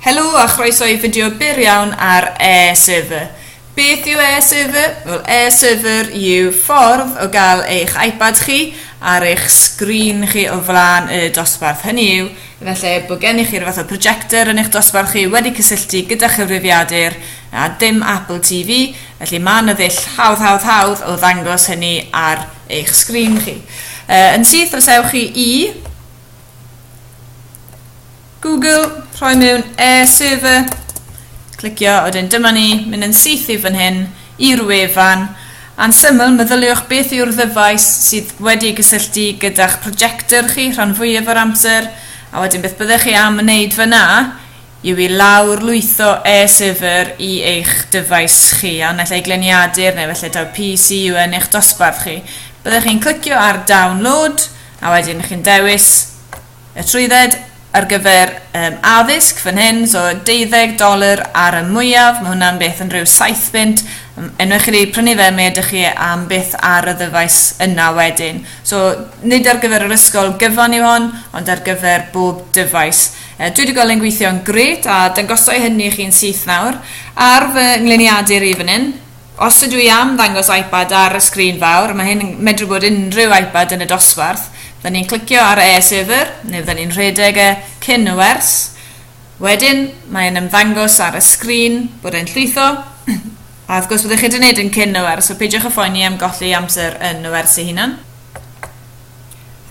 Helo a chroeso i fideo byr iawn ar AirServer. Beth yw AirServer? Wel, AirServer yw ffordd o gael eich iPad chi ar eich sgrin chi o flaen y dosbarth. Hynny yw, efallai bod gennych chi'r fath o projector yn eich dosbarth chi wedi cysylltu gyda chyfrifiadur a dim Apple TV, felly mae yna ddull hawdd hawdd hawdd o ddangos hynny ar eich sgrin chi. Uh, yn syth os ewch chi i Google, rhoi mewn e-server, clicio, a wedyn dyma ni, mynd yn syth i fan hyn, i'r wefan. A'n syml, meddyliwch beth yw'r ddyfais sydd wedi gysylltu gyda'ch projector chi rhan fwyaf o'r amser, a wedyn beth byddech chi am wneud fyna yw i lawr lwytho e-server i eich dyfais chi, a naill ai gleniadur neu felly taw PC yw yn eich dosbarth chi. Byddech chi'n clicio ar download, A wedyn chi'n dewis y trwydded ar gyfer um, addysg fan hyn, so 12 dolar ar y mwyaf, mae hwnna'n beth yn rhyw 7 bunt, enwch chi wedi prynu fe, mae ydych chi am beth ar y ddyfais yna wedyn. So, nid ar gyfer yr ysgol gyfan yw hon, ond ar gyfer bob dyfais. E, dwi wedi gweld yn gweithio'n gret, a dangosau hynny i chi'n syth nawr, ar fy ngliniadur i fan hyn, Os ydw i am ddangos iPad ar y sgrin fawr, mae hyn yn medru bod unrhyw iPad yn y dosbarth, fydden ni'n clicio ar AirSaver, neu fydden ni'n rhedeg e cyn y wers, wedyn mae e'n ymddangos ar y sgrin bod e'n llwytho, a wrth gwrs byddwch chi wedi gwneud yn cyn y wers, so peidiwch â phoeni am golli amser yn y wers ei hunan.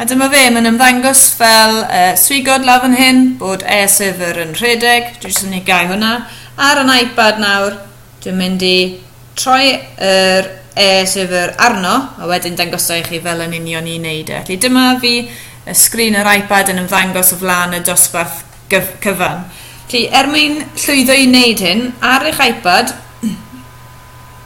A dyma fe, mae'n ymddangos fel uh, swigod lawr fan hyn bod AirSaver yn rhedeg, dwi'n jyst yn mynd i gau hwnna, ar yn iPad nawr, Dwi'n mynd i troi yr e-llyfr arno a wedyn dangosa i chi fel yn union i wneud e. Felly dyma fi y sgrin yr iPad yn ymddangos o flaen y dosbarth cyfan. Felly er mwyn llwyddo i wneud hyn ar eich iPad,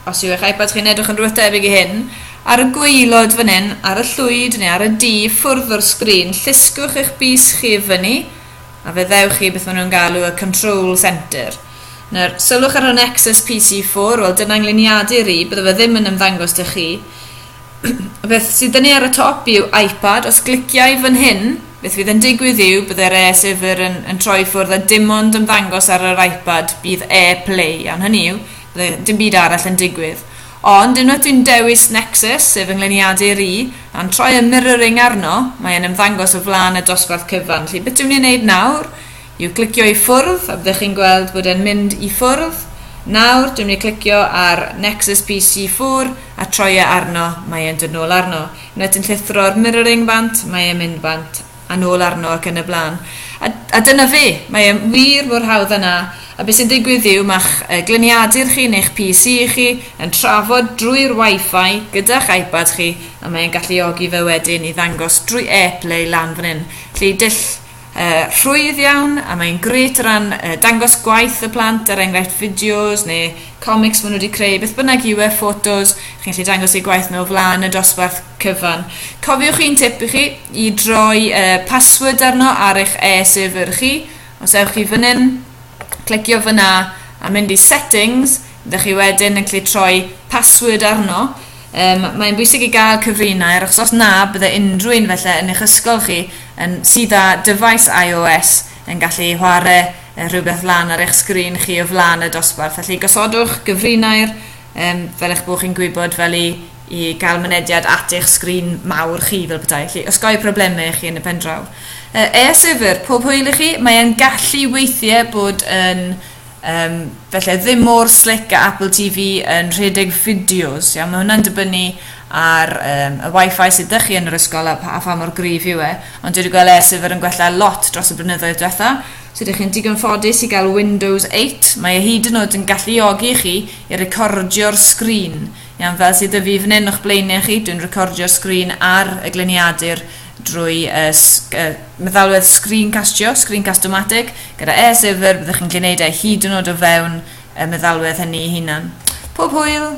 os yw eich iPad chi'n edrych yn rhywbeth debyg i hyn, ar y gwaelod fan hyn, ar y llwyd neu ar y du ffwrdd o'r sgrin, llusgwch eich bys chi i fyny, a fe ddewch chi beth maen nhw'n galw y control centre. Nawr, sylwch ar y Nexus PC4, wel dyna ngliniadu rhi, bydde fe ddim yn ymddangos dych chi. y beth sydd dynnu ar y top yw iPad, os gliciau fan hyn, beth fydd yn digwydd yw bydde'r e-syfr yn, yn troi ffwrdd a dim ond ymddangos ar yr iPad bydd e-play, iawn hynny yw, bydde dim byd arall yn digwydd. Ond unwaith dwi'n dewis Nexus, sef fy ngliniadur i, a'n troi y mirroring arno, mae e'n ymddangos o flaen y dosbarth cyfan. Felly beth dwi'n mynd i wneud nawr yw clicio i ffwrdd, a byddech chi'n gweld bod e'n mynd i ffwrdd. Nawr, dwi'n mynd i clicio ar Nexus PC 4 a troi e arno, mae e'n dod nôl arno. Unwaith dwi'n llithro'r mirroring bant, mae e'n mynd bant a nôl arno ac yn y blaen. A, a dyna fe, mae e wir mor hawdd â 'na. A be sy'n digwydd yw, ma'ch uh, gliniadur chi neu'ch PC chi yn trafod drwy'r Wi-Fi gyda'ch iPad chi, a mae e'n galluogi fe wedyn i ddangos drwy AirPlay lan fan hyn. Felly dull uh, rhwydd iawn, a mae'n gret o ran uh, dangos gwaith y plant, er enghraifft fideos neu comics maen nhw wedi creu, beth bynnag yw e, ffotos, chi'n gallu dangos eu gwaith nhw o flaen y dosbarth cyfan. Cofiwch un tip i chi i droi y uh, password arno ar eich e-server chi. Os ewch chi fan hyn, clicio fyna a mynd i settings, ydych chi wedyn yn gallu troi password arno. Um, mae'n bwysig i gael cyfrinau ar achos os na bydde unrhyw un felly yn eich ysgol chi yn sydd â dyfais iOS yn gallu chwarae rhywbeth lan ar eich sgrin chi o flaen y dosbarth. Felly gosodwch gyfrinau'r um, fel eich bod chi'n gwybod fel i i gael mynediad at eich sgrin mawr chi fel petai, felly osgoi problemau i chi yn y pendraw. Uh, Air Server, pob hwyl i chi, mae e'n gallu weithiau bod yn um, felly ddim mor slick a Apple TV yn rhedeg fideos, iawn, mae hwnna'n dibynnu ar um, y wifi sydd ydych chi yn yr ysgol a, a pha mor gryf yw e, ond dwi wedi gweld Air Server yn gwella lot dros y blynyddoedd diwetha, so ydych chi'n digon ffodus i gael Windows 8, mae e hyd yn oed yn galluogi chi i recordio'r sgrin Iawn, fel sydd 'da fi fan hyn o'ch blaenau chi, dwi'n recordio'r sgrin ar y gliniadur drwy uh, uh, meddalwedd screencastio, screencast-o-matic, gyda e server byddwch chi'n gwneud e hyd yn oed o fewn y meddalwedd hynny hunan. Pob hwyl!